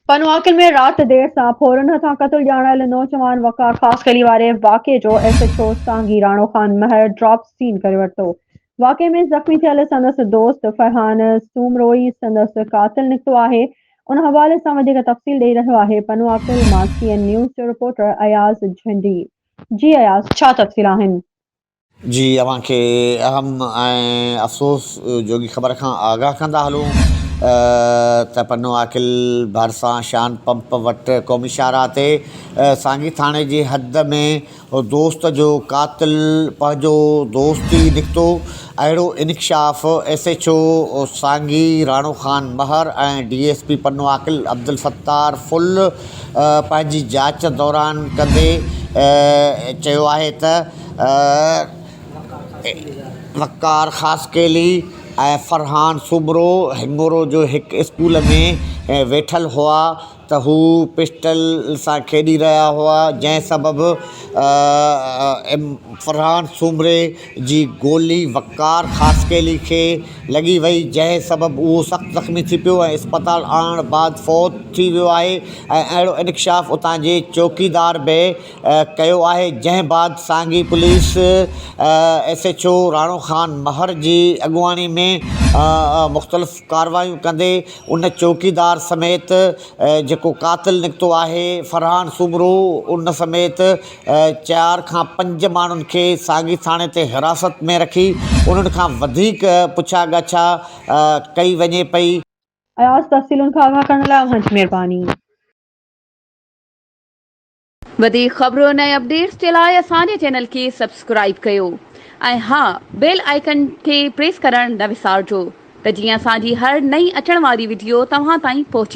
پنواڪن ۾ رات دير سان ڦورن هٿان قتل ڄاڻايل نوجوان وقار خاصخيلي واري واقعي جو S H O Sangi Rano Khan Mahar drop scene ڪري ورتو واقعي ۾ زخمي ٿيل سندس دوست فرحان سومروئي سندس قاتل نڪتو آهي ان حوالي سان وڌيڪ تفصيل ڏئي رهيو آهي پنواڪل مان سي اين نيوز جو رپورٽر اياز جهنڊي جي اياز ڇا تفصيل آهن جي اوهان کي اهم ۽ افسوس جوڳي خبر کان آگاهه ڪندا هلون ته پنو عاقل ڀرسان شان پمپ وٽ قومي شاهراهه تي سانگي ٿاڻي جي حد ۾ دوست جو قاتل پنهنجو دوست ئي نڪتو اهڙو انڪشاف S H O Sangi Rano Khan Mahar ۽ D S P Pano Aqil Abdul Sattar ڦل پنهنجي جاچ دوران ڪندي چيو آهي ته وقار خاصخيلي ۽ فرحان سومرو هنڱورو جو هڪ اسڪول ۾ ويٺل هئا ته هو پسٽل سان کيڏي رهيا هئا جنهن سبب فرحان سومري جي گولي وقار خاصخيلي کي لڳي وئي جنهن سبب اهو سخت زخمي ٿي پيو ۽ اسپتال آڻڻ بعد فوت ٿي ويو آهي ۽ اهڙو انڪشاف اتان جي چوڪيدار به ڪيو آهي جنهن بعد Sangi police S H O Rano Khan Mahar جي اڳواڻي ۾ مختلف ڪاروايون ڪندي ان چوڪيدار سميت جيڪو قاتل نڪتو آهي فرحان سومرو ان سميت چار کان پنج ماڻهن کي سانگي ٿاڻي تي حراست ۾ رکي انهن کان وڌيڪ پڇا ڳاڇا ڪئي وڃي پئي. اياز تفصيلن کان آگاهه ڪرڻ لاء اوهان جي مهرباني. وڌيڪ خبرن ۽ اپڊيٽس جي لاء اسان جي چينل کي سبسڪرائيب ڪيو ۽ ها بيل آئيڪن کي پريس ڪرڻ نه وسارجو ته جيئن اسان جي هر نئين اچڻ واري وڊيو توهان تائين پهچي